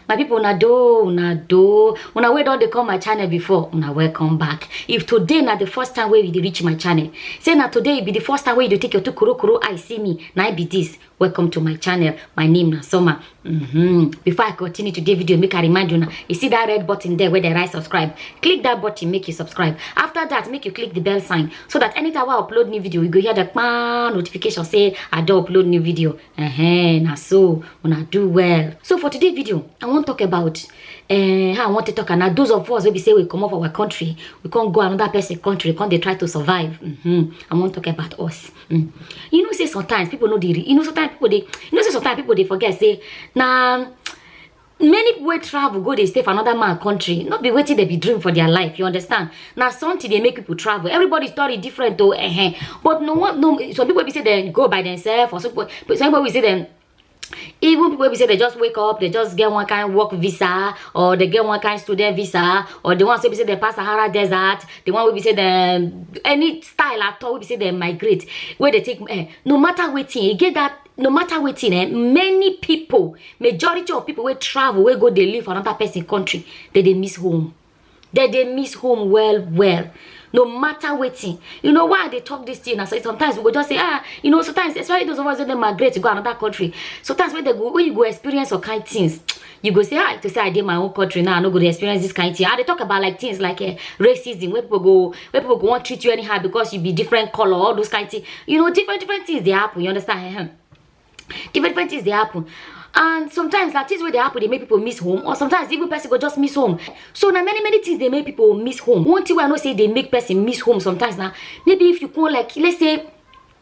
my people una do una do una wey don dey come my channel before una welcome back if today na the first time wey you dey reach my channel say na today e be the first time wey you dey take your two korokoro eye see me na e be this welcome to my channel my name na summer mm-hmm. before i continue today video make i remind una you see that red button there wey dey write subscribe click that button make you subscribe after that make you click the bell sign so that anytime wey i upload new video you go hear the kpaa notification say i don upload new video Uh-huh, na so una do well so for today video i wan talk about uh, how i wan take talk am na those of us wey be say we comot for our country we come go another person country come dey try to survive mm-hmm. i wan talk about us mm. you know say sometimes people no dey re- you know sometimes people dey you know say sometimes people dey forget say na many people wey travel go dey stay for another man country no be wetin dem be dream for their life you understand na something dey make people travel everybody story different o eh but no one no some people be say dem go by themselves or some people but some people be say dem even people wey be say they just wake up they just get one kind work visa or they get one kind student visa or the ones wey be say they pass sahara desert the one wey be say dem any style at all wey be say dem migrate wey dey take eh, no matter wetin e get that no matter wetin eh many people majority of people wey travel wey go dey live for another person country dey dey miss home dey dey miss home well well no matter wetin you know why i dey talk this thing na so sometimes we go just say ah you know sometimes especially those of us wey dey migrate go another country sometimes when they go when you go experience some kind things you go say ah to say i dey my own country now i no go dey experience this kind thing i dey talk about like things like uh, racism wey people go wey people go wan treat you anyhow because you be different color all those kind things you know different different things dey happen you understand Ehem. different different things dey happen and sometimes na things wey dey happen dey make people miss home or sometimes even person go just miss home so na many many things dey make people miss home one thing wey i know say dey make person miss home sometimes na maybe if you go like let's say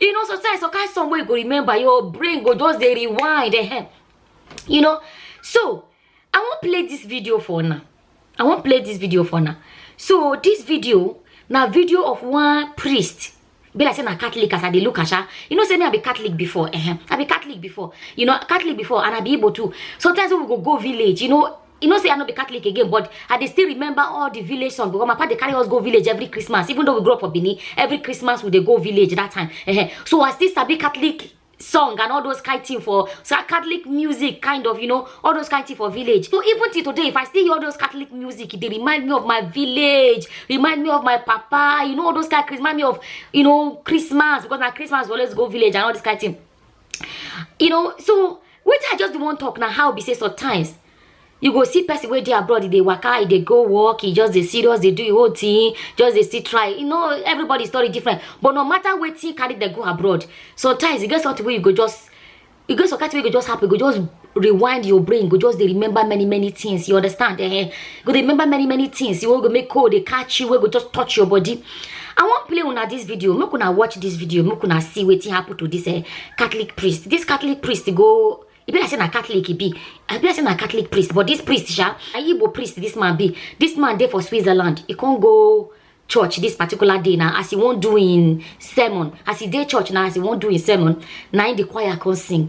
you know sometimes some kind song wey you go remember your brain go just dey rewind ehem you know so i wan play this video for una i wan play this video for una so this video na video of one priest be like say na catholic as i dey look am sha you know say me i be catholic before ehem i be catholic before you know catholic before and i be igbo too sometimes when we go go village you know You know, say I no be Catholic again, but I dey still remember all the village songs because my papa dey carry us go village every Christmas. Even though we grew up for Benin, every Christmas we dey go village that time. Ehen. So I still sabi Catholic song and all those kind thing for so Catholic music, kind of, you know, all those kind thing for village. So even till today, if I still hear all those Catholic music, it dey remind me of my village, remind me of my papa, you know, all those kind, remind me of, you know, Christmas because na Christmas we always go village and all this kind thing. you know so wetin i just dey wan talk na how be say sometimes you go see person wey dey abroad e dey waka e dey go work e just dey serious dey do e whole thing just dey still try you know everybody story different but no matter wetin carry dem go abroad sometimes e get something wey you go just e get some kind thing wey go just happen e go just rewind your brain go just dey remember many many things you understand eh go dey remember many many things you go make cold dey catch you wey go just touch your body i wan play una this video make una watch this video make una see wetin happen to this eh catholic priest this catholic priest go e be like say na catholic e be i be like say na catholic priest but this priest sha na igbo priest this man be this man dey for switzerland e con go church this particular day na as e wan do im sermon as e dey church na as e wan do im sermon na im the choir con sing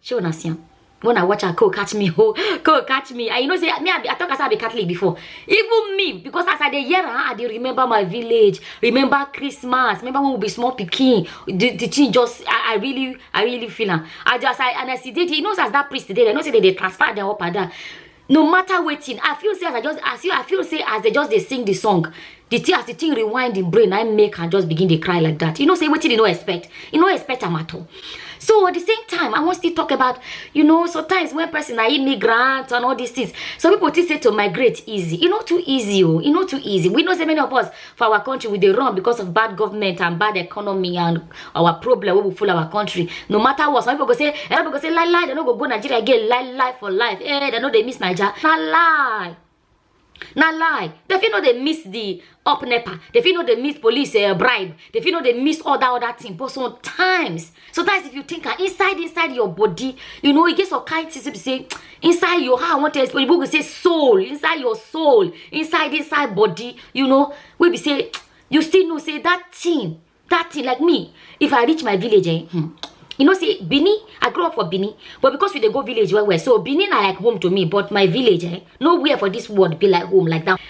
She will not see him. when i watch her co catch me ho co catch me and you know say me i be i talk as i be catholic before even me because as i dey hear her i dey remember my village remember christmas remember when we be small pikin the the thing just i i really i really feel am i just i and i see dey there you know as that priest dey there you know say they dey transfer them up and down no matter wetin i feel say as i just as you i feel say as they just dey sing the song the thing as the thing rewind im brain na im make am just begin dey cry like that you know say wetin e no expect e no expect am at all so at the same time i wan still talk about you know sometimes when person na immigrant and all these things some people think say to migrate easy e no too easy o e no too easy we know say many of us for our country we dey run because of bad government and bad economy and our problem wey we full our country no matter what some people go say some people go say lie lie dem no go go nigeria again lie lie for life eh dem no dey miss naija na lie na lie dem fit no dey miss the up nepa dem fit no dey miss police uh, bribe dem fit no dey miss all that other thing but sometimes sometimes if you think am inside inside your body you know e get some kind things wey be say inside your how i wan tell you people go say soul inside your soul inside inside body you know wey be say you still know say that thing that thing like me if i reach my village eh hmm, you know say benin i grow up for benin but because we dey go village well well so benin na like home to me but my village eh nowhere for this world be like home like that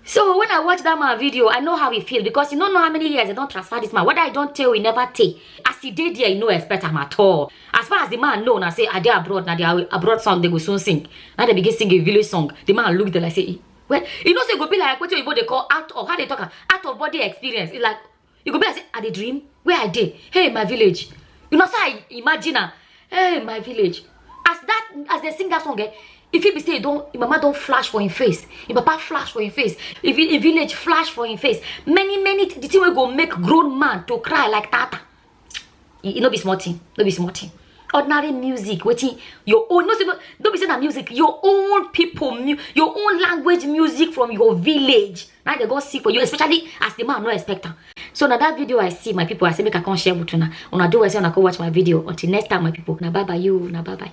so when i watch that man video i know how he feel because you no know how many years i don't transfer this man whether i don't tell he never take as he did there you no expect am at all as far as the man know I say are they abroad Now they are abroad song they go soon sing Now they begin sing a village song the man look there like say well you know say go be like what you go they call out of how they talk out of body experience it's like e go be like say i dey dream where i dey hey my village you know say i imagine am hey my village as that as dem sing that song eh e fit be say e don im mama don flash for im face im papa flash for im face if im village flash for im face many many the thing wey go make grown man to cry like tata e no be small thing no be small thing ordinary music wetin your own no say no be say na music your own people mu your own language music from your village na dey go see for you especially as the man no expect am so na that video i see my people i say make i come share with una una do well say una go watch my video until next time my people na bye bye you na bye bye.